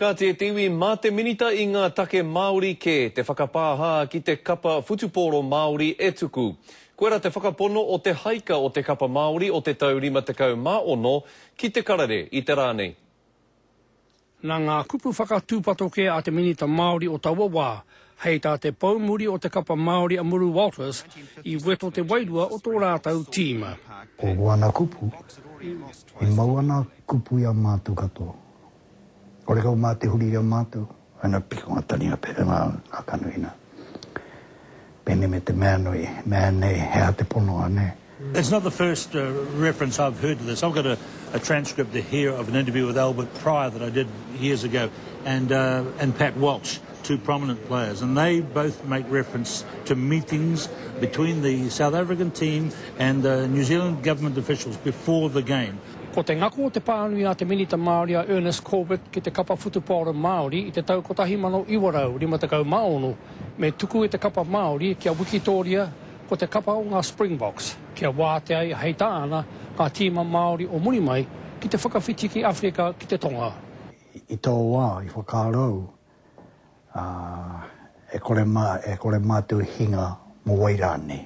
Ka tē te iwi mā te Minita i ngā take Māori kē te whakapāhā ki te kapa whutupōro Māori e tuku. Koirā te whakapono o te haika o te kapa Māori o te tau 56 ki te karere i te rā nei. Nā ngā kupu whakatūpato kē a te Minita Māori o taua wā, hei tā te pou muri o te kapa Māori a Muru Walters, i weto te wairua o tō rātou tīma. Ko ōna kupu, i mau ana kupu i a mātou katoa, Orekau mā te huri i a mātou. Hai ngā piko, ngā tari, ngā pere, ngā kanu ina. Pēnei me te mea nui, mea nei, he aha te pono, anei? It's not the first reference I've heard to this. I've got a a transcript here of an interview with Albert Prior that I did years ago and uh and Pat Walsh, two prominent players, and they both make reference to meetings between the South African team and the New Zealand government officials before the game. Ko te ngako o te pānui a te Minita Māori a Ernest Corbett ki te kapa whutupaoro Māori i te tau 1956 me tuku e te kapa Māori kia wikitōria ko te kapa o ngā Springboks kia wātea i hei tāna ngā tīma Māori o muri mai ki te whakawhiti ki Awherika ki te Tonga. I tō wā i whakaaro au, ā, e kore mātou i hinga mō wai rānei.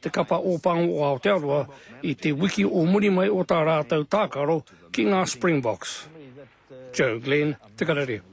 te kapa Ōpango o Aotearoa i te wiki o muri mai o tā rātou tākaro ki ngā Springboks. Joe Glenn, Te Karere.